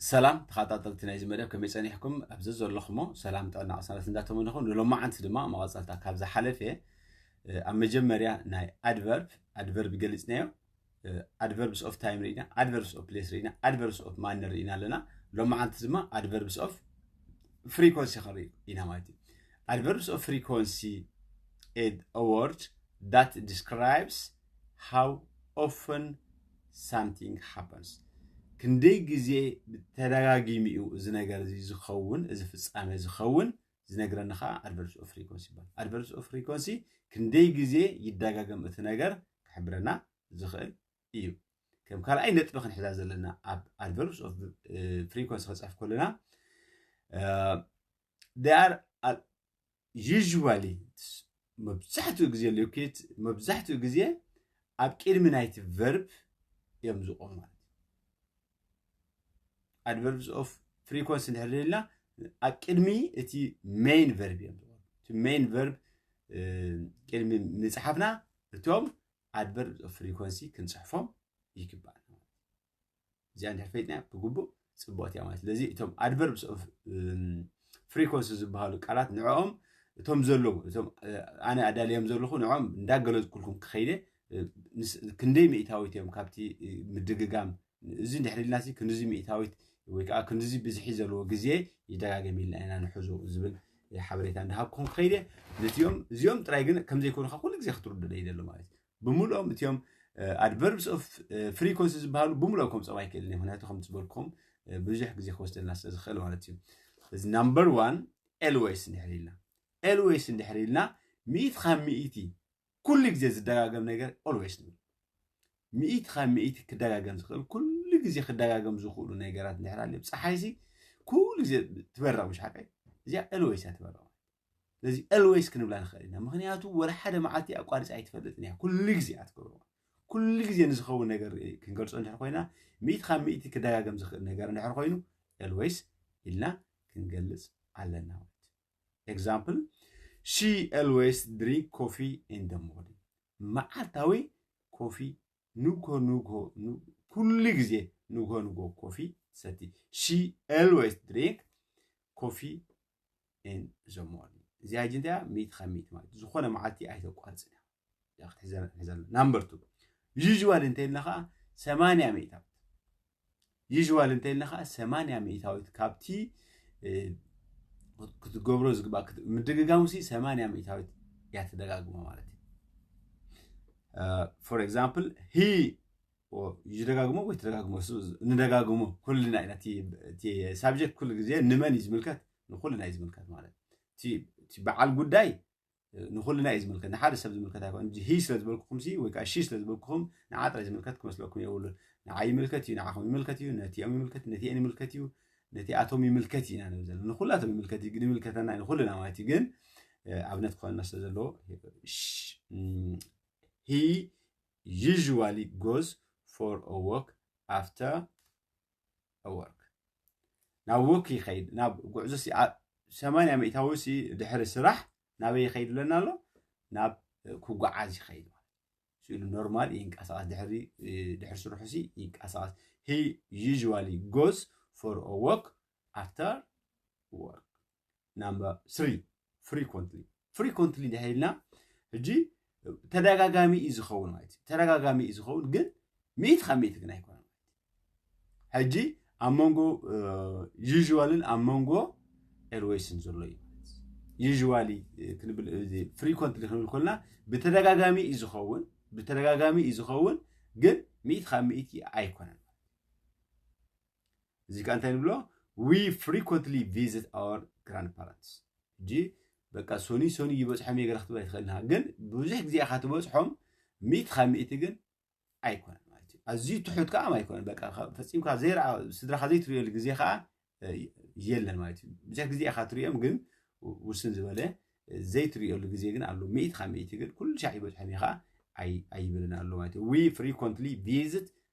ሰላም ተኸታተልቲ ናይዚ መደብ ከመይ ፀኒሕኩም ኣብዚ ዘለኹሞ ሰላም ጥዕና ቅሳነት እንዳተመነኹ ንሎማዓንቲ ድማ መቐፀልታ ካብ ዝሓለፈ ኣብ መጀመርያ ናይ ኣድቨርብ ኣድቨርብ ገሊፅናዮ ኣድቨርብስ ኦፍ ታይም ርኢና ኣድቨርብስ ኦፍ ፕሌስ ርኢና ኣድቨርብስ ኦፍ ማነር ርኢና ኣለና ሎማዓንቲ ድማ ኣድቨርብስ ኦፍ ፍሪኮንሲ ክንርኢ ኢና ማለት እዩ ኣድቨርብስ ኦፍ ፍሪኮንሲ ኤድ ኣወርድ that describes how often something happens ክንደይ ግዜ ብተደጋጊሚ'ዩ እዚ ነገር እዚ ዝኸውን እዚ ፍጻሜ ዝኸውን ዝነግረኒ ከኣ ኣድቨርስ ኦፍ ፍሪኮንሲ ይባል ኣድቨርስ ኦፍ ፍሪኮንሲ ክንደይ ግዜ ይደጋገም እቲ ነገር ክሕብረና ዝኽእል እዩ ከም ካልኣይ ነጥቢ ክንሕዛ ዘለና ኣብ ኣድቨርስ ኦፍ ፍሪኮንሲ ከጽሕፍ ከለና they are uh, usually መብዛሕትኡ ግዜ ሎኬት መብዛሕትኡ ግዜ ኣብ ቅድሚ ናይቲ ቨርብ እዮም ዝቆሙ ማለት ኣድቨርብስ ኦፍ ፍሪኮንስ እንድሕር ደልና ኣብ ቅድሚ እቲ ሜይን ቨርብ እዮም ዝቆሙ እቲ ሜይን ቨርብ ቅድሚ ምፅሓፍና እቶም ኣድቨርብስ ኦፍ ፍሪኮንሲ ክንፅሕፎም ይግባእ እዚኣ እንድሕር ፈይጥናያ ብግቡእ ፅቡቕቲ እያ ማለት ስለዚ እቶም ኣድቨርብስ ኦፍ ፍሪኮንሲ ዝበሃሉ ቃላት ንዕኦም እቶም ዘለዉ እቶም ኣነ ኣዳልዮም ዘለኹ ንዕኦም እንዳገለፅኩልኩም ክኸይደ ክንደይ ሚእታዊት እዮም ካብቲ ምድግጋም እዚ እንድሕር ኢልና ክንዚ ሚእታዊት ወይ ከዓ ክንዚ ብዝሒ ዘለዎ ግዜ ይደጋገም ኢልና ኢና ንሕዞ ዝብል ሓበሬታ እንዳሃብኩም ክኸይደ ነቲኦም እዚኦም ጥራይ ግን ከምዘይኮኑካ ኩሉ ግዜ ክትርዱ ደይ ደሎ ማለት እዩ ብምልኦም እትዮም ኣድቨርብስ ኦፍ ፍሪኮንሲ ዝበሃሉ ብምልኦም ከምፀም ኣይክእልን ምክንያቱ ከም ዝበልኩም ብዙሕ ግዜ ክወስደልና ስለ ዝኽእል ማለት እዩ እዚ ናምበር ዋን ኤልዌይስ እንድሕር ኢልና ኤልዌይስ እንድሕር ኢልና ሚኢት ካብ ሚኢቲ ኩሉ ግዜ ዝደጋገም ነገር ኦልዌይስ ንብል ሚኢት ካብ ሚኢቲ ክደጋገም ዝኽእል ኩሉ ግዜ ክደጋገም ዝኽእሉ ነገራት እንድሕር ኣልዮም ፀሓይሲ ኩሉ ግዜ ትበርቕ ምሽ ሓቀይ እዚኣ ኤልዌይስ እያ ትበርቕ ስለዚ ኤልወይስ ክንብላ ንኽእል ኢና ምክንያቱ ወላ ሓደ መዓልቲ ኣቋርፂ ኣይትፈልጥን እያ ኩሉ ግዜ እያ ትገብሮ ኩሉ ግዜ ንዝኸውን ነገር ክንገልፆ እንድሕር ኮይና ሚእቲ ካብ ሚእቲ ክደጋገም ዝኽእል ነገር እንድሕር ኮይኑ ኤልወይስ ኢልና ክንገልፅ ኣለና ማለት ኤግዛምፕል ሺ ኤልወይስ ድሪንክ ኮፊ ኢን ደ ሞርኒንግ መዓልታዊ ኮፊ ንግሆ ንግሆ ኩሉ ግዜ ንግሆ ንግሆ ኮፊ ሰቲ ሺ ኤልወይስ ድሪንክ ኮፊ in the morning እዚኣ ሕጂ እንታይ እያ ሚእቲ ካብ ሚእቲ ማለት ዝኾነ መዓልቲ ኣይተቋርፅን እያ እዚኣ ክትሕዘና ክንሕዘና ናምበር ቱ ዩዥዋል እንተይልና ከዓ ሰማንያ ሚእታዊት ዩዥዋል እንተይልና ከዓ ሰማንያ ሚእታዊት ካብቲ ክትገብሮ ዝግባ ምድግጋሙ ሲ ሰማንያ ሚእታዊት እያ ትደጋግሞ ማለት እዩ ፎር ኤግዛምፕል ሂ ይደጋግሞ ወይ ትደጋግሞ ንደጋግሞ ኩልና ኢና እቲ ሳብጀክት ኩሉ ግዜ ንመን እዩ ዝምልከት ንኩልና እዩ ዝምልከት ማለት እቲ በዓል ጉዳይ ንኩልና እዩ ዝምልከት ንሓደ ሰብ ዝምልከት ኣይኮን ሂ ስለ ዝበልኩኹም ሲ ወይ ከዓ ሺ ስለ ዝበልኩኹም ንዓ ጥራይ ዝምልከት ክመስለኩም የብሉን ንዓ ይምልከት እዩ ንዓኹም ይምልከት እዩ ነቲኦም ይምልከት ነቲአን ይምልከት እዩ ነቲኣቶም ይምልከት ኢና ንብል ዘለና ንኩላቶም ይምልከት እዩ ግን ይምልከተና ንኩልና ማለት እዩ ግን ኣብነት ክኾንና ስለ ዘለዎ ሂ usually goes for a walk after a work ናብ ወክ ይኸይድ ናብ ጉዕዞ ሰማንያ ሚእታዊ ሲ ድሕሪ ስራሕ ናበይ ይኸይድ ኣለና ኣሎ ናብ ክጓዓዝ ይኸይድ ስኢሉ ኖርማል ይንቀሳቐስ ድሕሪ ድሕሪ ስርሑ ሲ ይንቀሳቐስ ሂ ዩዥዋሊ ጎዝ ፎር ኦ ወክ ኣፍተር ወርክ ናምበር ስሪ ፍሪኮንትሊ ፍሪኮንትሊ ድሕር ኢልና ሕጂ ተደጋጋሚ እዩ ዝኸውን ማለት እዩ ተደጋጋሚ እዩ ዝኸውን ግን ሚእቲ ካብ ሚእቲ ግን ኣይኮነን ሕጂ ኣብ መንጎ ዩዥዋልን ኣብ መንጎ ኤርዌይስን ዘሎ እዩ ዩዥዋሊ ክንብል ፍሪኮንትሊ ክንብል ኮልና ብተደጋጋሚ እዩ ዝኸውን ብተደጋጋሚ እዩ ዝኸውን ግን ሚእቲ ካብ ሚእቲ ኣይኮነን እዚ ቃ እንታይ ንብሎ ዊ ፍሪኮንትሊ ቪዝት ኣወር ግራንድ ፓረንትስ ሕጂ በቃ ሶኒ ሶኒ ይበፅሖም እየ ገለ ክትብል ኣይትኽእልን ኢኻ ግን ብዙሕ ግዜ ኢኻ ትበፅሖም ሚእቲ ካብ ሚእቲ ግን ኣይኮነን ማለት እዩ ኣዝዩ ትሑት ከዓ ኣይኮነን በቃ ፈፂምካ ዘይረኣ ስድራኻ ዘይትሪእየሉ ግዜ ከዓ የለን ማለት እዩ ብዙሕ ግዜ ኢኻ ትሪኦም ግን ውስን ዝበለ ዘይትሪእየሉ ግዜ ግን ኣሎ ሚእቲ ካብ ሚእቲ ግን ኩሉ ሻዕ ይበፅሖም ኢኻ ኣይብልን ኣሎ ማለት እዩ ዊ ፍሪኮንትሊ ቪዝት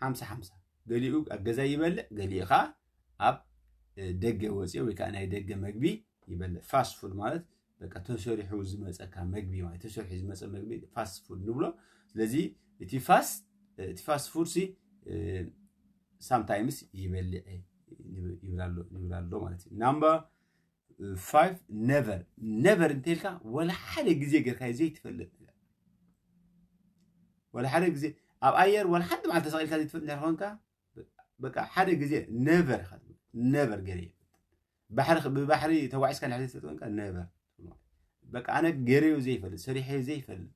ሓምሳ ሓምሳ ገሊኡ ኣብ ገዛ ይበልዕ ገሊኡ ከዓ ኣብ ደገ ወፂኦ ወይ ከዓ ናይ ደገ መግቢ ይበልዕ ፋስት ፉድ ማለት በቃ ተሰሪሑ ዝመፀካ መግቢ ማለት ተሰሪሑ ዝመፀ መግቢ ፋስት ፉድ ንብሎ ስለዚ እቲ ፋስት እቲ ፋስት ፉድ ሲ ሳምታይምስ ይበልዕ ይብል ኣሎ ማለት እዩ ናምበር ፋይቭ ነቨር ነቨር እንተልካ ወላ ሓደ ግዜ ጌርካዮ ዘይትፈልጥ ነገር ወላ ሓደ ግዜ ኣብ ኣየር ወላ ሓንቲ መዓልቲ ተሰቂልካ ዘይትፈልጥ ነገር ኮንካ በቃ ሓደ ግዜ ነቨር ኢኻ ትብል ነቨር ገይረ ባሕሪ ብባሕሪ ተጓዒዝካ ድሕሪ ዘይትፈልጥ ኮንካ ነቨር በቃ ኣነ ገይረዮ ዘይፈልጥ ሰሪሐዮ ዘይፈልጥ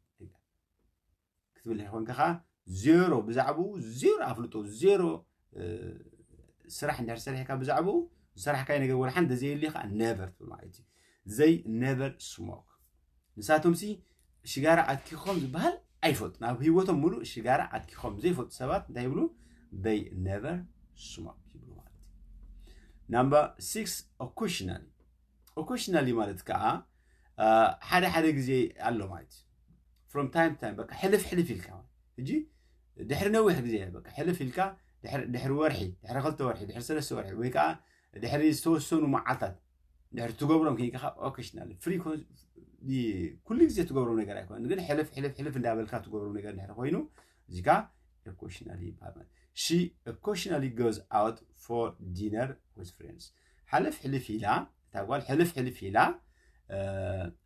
ክትብልሒ ኮንካ ከኣ ዜሮ ብዛዕባኡ ዜሮ ኣፍልጦ ዜሮ ስራሕ እንድሕር ሰሪሕካ ብዛዕባኡ ዝሰራሕካይ ነገር ወላ ሓንቲ ዘየልዩ ከዓ ነቨር ትብል ማለት እዩ ዘይ ነቨር ስሞክ ንሳቶም ሲ ሽጋራ ኣትኪኾም ዝበሃል ኣይፈልጡን ኣብ ህይወቶም ሙሉእ ሽጋራ ኣትኪኾም ዘይፈልጡ ሰባት እንታይ ይብሉ ዘይ ነቨር ስሞክ ይብሉ ማለት እዩ ናምበር ሲክስ ኦኩሽናል ኦኮሽናሊ ማለት ከዓ ሓደ ሓደ ግዜ ኣሎ ማለት እዩ ፍሮም ታይም ታይም በቃ ሕልፍ ሕልፍ ኢልካ ሕጂ ድሕሪ ነዊሕ ግዜ በቃ ሕልፍ ኢልካ ድሕሪ ወርሒ ድሕሪ ክልተ ወርሒ ድሕሪ ሰለስተ ወርሒ ወይ ከዓ ድሕሪ ዝተወሰኑ መዓልታት ድሕሪ ትገብሮም ከይንካ ካብ ኦኬሽናል ፍሪ ኩሉ ግዜ ትገብሮም ነገር ኣይኮነን ግን ሕልፍ ሕልፍ ሕልፍ እንዳበልካ ትገብሮም ነገር ድሕሪ ኮይኑ እዚካ ኦኬሽናል ይበሃል ሺ ኦኬሽናሊ ጎዝ ኣውት ፎር ዲነር ዊዝ ፍሬንድስ ሕልፍ ሕልፍ ኢላ እታ ጓል ሕልፍ ሕልፍ ኢላ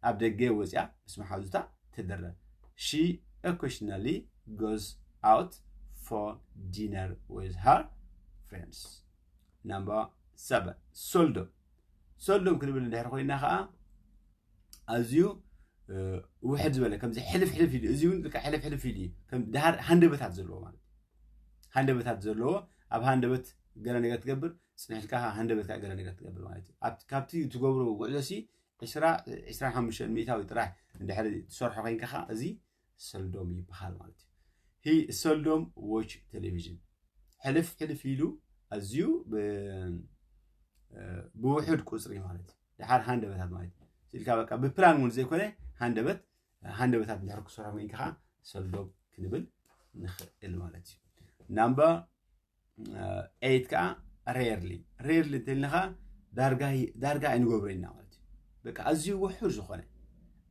ኣብ ደገ ወፂኣ ምስ መሓዙታ ትድረር ሺ ኦኬሽናሊ ጎዝ ኣውት ፎር ዲነር ዊዝ ሃር ፍሬንድስ ናምበር ሰቨን ሶልዶ ሶልዶም ክንብል እንድሕር ኮይና ከዓ ኣዝዩ ውሕድ ዝበለ ከምዚ ሕልፍ ሕልፍ ኢሉ እዚ እውን ሕልፍ ሕልፍ ኢሉ እዩ ከም ድሃር ሃንደበታት ዘለዎ ማለት ሃንደበታት ዘለዎ ኣብ ሃንደበት ገለ ነገር ትገብር ጽኒሕልካ ከኣ ሃንደበትካ ገለ ነገር ትገብር ማለት እዩ ኣብ- ካብቲ ትገብሮ ጉዕዞሲ ዕስራ ዕስራን ሓሙሽተን ሚእታዊ ጥራሕ እንድሕሪ ትሰርሖ ኮይንካ ከኣ እዚ ሰልዶም ይበሃል ማለት እዩ ሂ ሰልዶም ዎች ቴሌቪዥን ሕልፍ ሕልፍ ኢሉ ኣዝዩ ብ- እ፣ ብውሑድ ቁፅሪ ማለት እዩ ድሓር ሃንደበታት ማለት እዩ ስኢልካ በቃ ብፕላን እውን ዘይኮነ ሃንደበት ሃንደበታት ድሕር ክሰርሖ ኮይንካ ከኣ ሰልዶም ክንብል ንኽእል ማለት እዩ ናምበር ኤይት ከዓ ሬርሊ ሬርሊ እንተልና ከዓ ዳርጋ ኣይንገብሮ ኢና ማለት እዩ በቃ ኣዝዩ ውሑድ ዝኾነ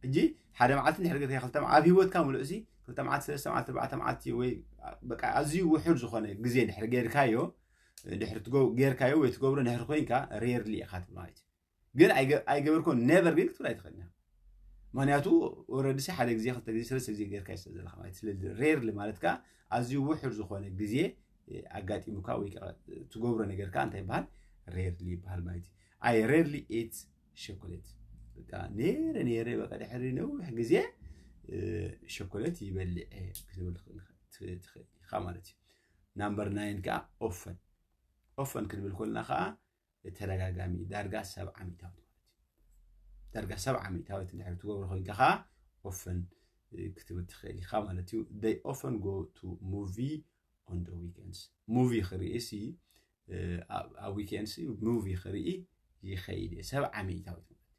ሕጂ ሓደ መዓልቲ ድሕሪ ገርካ ክልተ ኣብ ሂወትካ ምሉእ እዚ ክልተ መዓልቲ ሰለስተ መዓልቲ ኣርባዕተ መዓልቲ ወይ በቃ ኣዝዩ ውሑድ ዝኾነ ግዜ ድሕሪ ገርካዮ ድሕሪ ጌርካዮ ወይ ትገብሮ ድሕሪ ኮይንካ ሬርሊ ኢኻ ትብል ማለት እዩ ግን ኣይገበርኩን ነቨር ግን ክትብል ኣይትኽእልን ኢኻ ምክንያቱ ወረድሲ ሓደ ግዜ ክልተ ግዜ ሰለስተ ግዜ ጌርካ ይስለ ዘለካ ማለት ስለ ሬርሊ ማለት ከዓ ኣዝዩ ውሑድ ዝኾነ ግዜ ኣጋጢሙካ ወይ ከዓ ትገብሮ ነገር ከዓ እንታይ ይበሃል ሬርሊ ይበሃል ማለት እዩ ኣይ ሬርሊ ኢት ሸኮሌት በቃ ነይረ ነይረ በቃ ድሕሪ ነዊሕ ግዜ ሸኮሌት ይበልዕ ክትብል ትኽእል ኢኻ ማለት እዩ ናምበር ናይን ከዓ ኦፈን ኦፈን ክንብል ኮልና ከዓ ብተደጋጋሚ ዳርጋ ሰብዓ ሚእታዊት ማለት እዩ ዳርጋ ሰብዓ ሚእታዊት እንድሕር ትገብሮ ኮይንካ ከዓ ኦፈን ክትብል ትኽእል ኢኻ ማለት እዩ ደይ ኦፈን ጎ ቱ ሙቪ ኦን ደ ዊኬንድስ ሙቪ ክርኢ ሲ ኣብ ዊኬንድስ ሙቪ ክርኢ ይኸይድ እየ ሰብዓ ሚእታዊት ማለት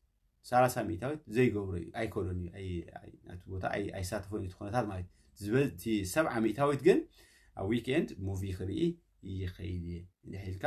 ሰላሳ ሚእታዊት ዘይገብሮ እዩ ኣይከሎን እዩ ናቲ ቦታ ኣይሳተፎን እዩ ትኾነታት ማለት ዝበቲ ሰብዓ ሚእታዊት ግን ኣብ ዊኬንድ ሙቪ ክርኢ ይኸይድ እየ እንድሕር ኢልካ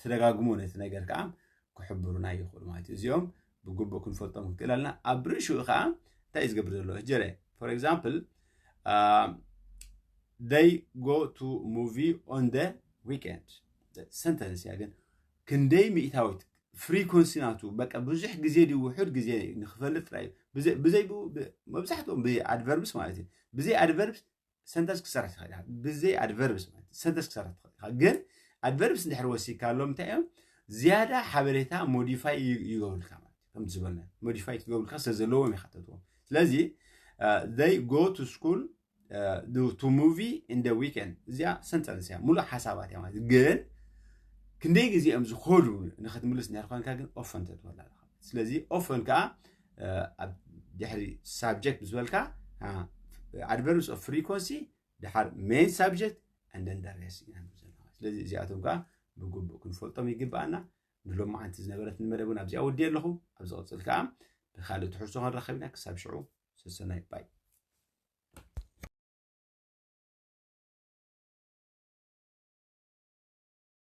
ተደጋግሞ ነቲ ነገር ከዓ ክሕብሩና ይኽእሉ ማለት እዩ እዚኦም ብግቡእ ክንፈልጦም ክንክእል ኣለና ኣብ ርእሽኡ ከዓ እንታይ እዩ ዝገብር ዘሎ ጀረ ፎር ኤግዛምፕል ደይ ጎ ቱ ሙቪ ኦን ደ ዊኬንድ ሰንተንስ እያ ግን ክንደይ ሚእታዊት ፍሪኮንሲ ናቱ በቃ ብዙሕ ግዜ ድዩ ውሑድ ግዜ ንክፈልጥ ጥራይ ብዘይ መብዛሕትኦም ብዘይ ኣድቨርብስ ማለት እዩ ብዘይ ኣድቨርብስ ሰንተንስ ክትሰርሕ ትኽእል ኢኻ ብዘይ ኣድቨርብስ ማለት እዩ ሰንተንስ ክትሰርሕ ትኽእል ኢኻ ግን ኣድቨርብስ እንድሕር ወሲካሎም እንታይ እዮም ዝያዳ ሓበሬታ ሞዲፋይ ይገብሩልካ ማለት እዩ ከምቲ ዝበልና ሞዲፋይ ክትገብሩልካ ስለ ዘለዎም ይሓተትዎም ስለዚ ዘይ ጎ ቱ ስኩል ቱ ሙቪ ኢንደ ዊኬንድ እዚኣ ሰንተንስ እያ ሙሉእ ሓሳባት እያ ማለት ግን ክንደይ ግዜ እዮም ዝኸዱ ንክትምልስ እንድሕር ኮንካ ግን ኦፈን ተትበላ ኣለካ ስለዚ ኦፈን ከዓ ድሕሪ ሳብጀክት ምስ በልካ ኣድቨርብስ ኦፍ ፍሪኮንሲ ድሓር ሜን ሳብጀክት እንደን ዳሬስ ኢና ንብል ዘለና ስለዚ እዚኣቶም ከዓ ብግቡእ ክንፈልጦም ይግብኣና ንሎም መዓንቲ ዝነበረት ንመደብ እውን ኣብዚኣ ወዲየ ኣለኹ ኣብ ዝቕፅል ከዓ ብካልእ ትሕዝቶ ክንራኸብ ኢና ክሳብ ሽዑ ሰሰናይ ባይ